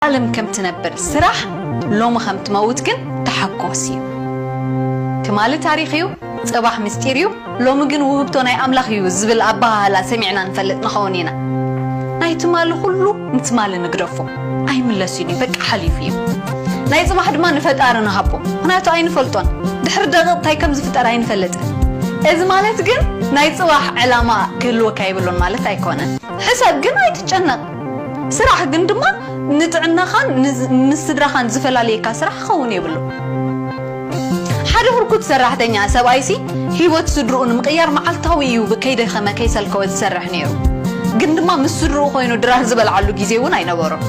ዓለም ከም ትነብር ስራሕ ሎሚ ከም ትመውት ግን ተሓጎስ እዩ ትማሊ ታሪኽ እዩ ጽባሕ ምስጢር እዩ ሎሚ ግን ውህብቶ ናይ ኣምላኽ እዩ ዝብል ኣበሃህላ ሰሚዕና ንፈልጥ ንኸውን ኢና ናይ ትማሊ ኩሉ ንትማሊ ንግደፎ ኣይምለስን እዩ በቃ ሓሊፉ እዩ ናይ ጽባሕ ድማ ንፈጣሪ ንሃቦ ምክንያቱ ኣይንፈልጦን ድሕሪ ደቂቕ እንታይ ከም ዝፍጠር ኣይንፈልጥን እዚ ማለት ግን ናይ ጽባሕ ዕላማ ክህልወካ የብሉን ማለት ኣይኮነን ሕሰብ ግን ኣይትጨነቕ ስራሕ ግን ድማ ንጥዕናኻን ምስ ስድራኻን ዝፈላልየካ ስራሕ ክኸውን የብሉን። ሓደ ህርኩት ሰራሕተኛ ሰብኣይሲ ህይወት ስድርኡ ንምቕያር መዓልታዊ እዩ ከይደኸመ ከይሰልከወ ዝሰርሕ ነይሩ። ግን ድማ ምስ ስድርኡ ኮይኑ ድራር ዝበልዓሉ ግዜ እውን ኣይነበሮን።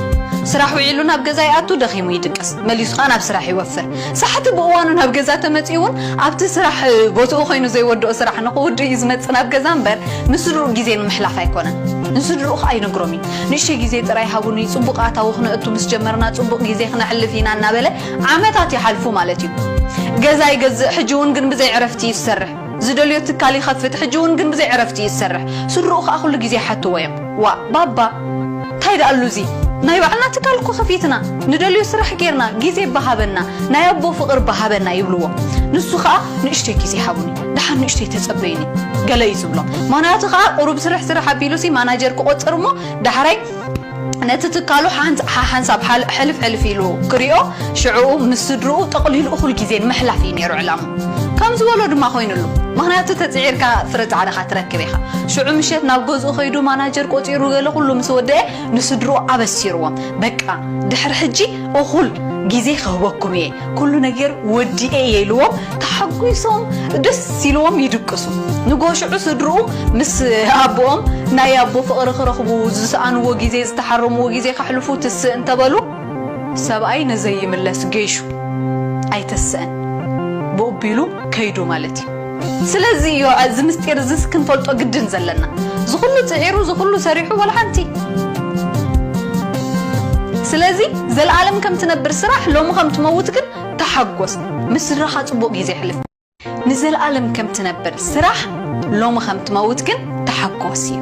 ስራሕ ውዒሉ ናብ ገዛ ይኣቱ፣ ደኺሙ ይድቅስ፣ መሊሱ ከኣ ናብ ስራሕ ይወፍር። ሳሕቲ ብእዋኑ ናብ ገዛ ተመጺኡ ውን ኣብቲ ስራሕ ቦትኡ ኮይኑ ዘይወድኦ ስራሕ ንኽውድእ እዩ ዝመጽእ ናብ ገዛ እምበር ምስ ስድርኡ ግዜ ንምሕላፍ ኣይኮነን። ንስድርኡ ከኣ ይነግሮም እዩ። ንእሽተይ ግዜ ጥራይ ሃቡኒ ጽቡቕ ኣታዊ ክነእቱ ምስ ጀመርና ጽቡቕ ግዜ ክነሕልፍ ኢና እናበለ ዓመታት ይሓልፉ ማለት እዩ። ገዛ ይገዝእ ሕጂ ውን ግን ብዘይ ዕረፍቲ እዩ ዝሰርሕ። ዝደልዮ ትካል ይኸፍት ሕጂ ውን ግን ብዘይ ዕረፍቲ እዩ ዝሰርሕ ስድርኡ ከኣ ኩሉ ግዜ ይሓትዎ እዮም ዋእ ባባ ታይ ደኣሉ እዚ ናይ ባዕልና ትካል እኮ ከፊትና ንደልዮ ስራሕ ጌርና ግዜ እባ ሃበና ናይ ኣቦ ፍቅር እባ ሃበና ይብልዎ ንሱ ከኣ ንእሽተይ ግዜ ሃቡኒ ደሓን ንእሽተይ ተጸበዩኒ ገለ እዩ ዝብሎም ምክንያቱ ከኣ ቁሩብ ስርሕ ስርሕ ኣቢሉሲ ማናጀር ክቆጽር እሞ ዳሕራይ ነቲ ትካሉ ሓሓንሳብ ሕልፍ ሕልፍ ኢሉ ክሪኦ ሽዑኡ ምስ ስድርኡ ጠቕሊሉ እኹል ግዜ ንምሕላፍ እዩ ነይሩ ዕላምኡ። ከም ዝበሎ ድማ ኮይንሉ። ምኽንያቱ ተጽዒርካ ፍረ ጻዕርኻ ትረክብ ኢኻ። ሽዑ ምሸት ናብ ገዝኡ ከይዱ ማናጀር ቆጺሩ ገለ ኩሉ ምስ ወደኤ ንስድርኡ ኣበሲርዎም በቃ ድሕሪ ሕጂ እኹል ግዜ ክህበኩም እየ። ኩሉ ነገር ወዲኤ ኢልዎም ተሓጒሶም ደስ ኢልዎም ይድቅሱ። ንግሆ ሽዑ ስድርኡ ምስ ኣቦኦም ናይ ኣቦ ፍቕሪ ክረኽቡ፣ ዝሰኣንዎ ግዜ፣ ዝተሓረምዎ ግዜ ከሕልፉ ትስእ እንተበሉ፣ ሰብኣይ ንዘይምለስ ጌሹ ኣይተስእን ብኡቢሉ ከይዱ ማለት እዩ። ስለዚ እዮ ኣዚ ምስጢር እዝስ ክንፈልጦ ግድን ዘለና ዝኩሉ ጽዒሩ ዝኩሉ ሰሪሑ ዋላ ሓንቲ ስለዚ ዘልኣለም ከም ትነብር ስራሕ ሎሚ ከም ትመውት ግን ተሓጎስ ምስ ስድራካ ጽቡቅ ግዜ ኣሕልፍ። ንዘልኣለም ከም ትነብር ስራሕ ሎሚ ከም ትመውት ግን ተሓጎስ እዩ።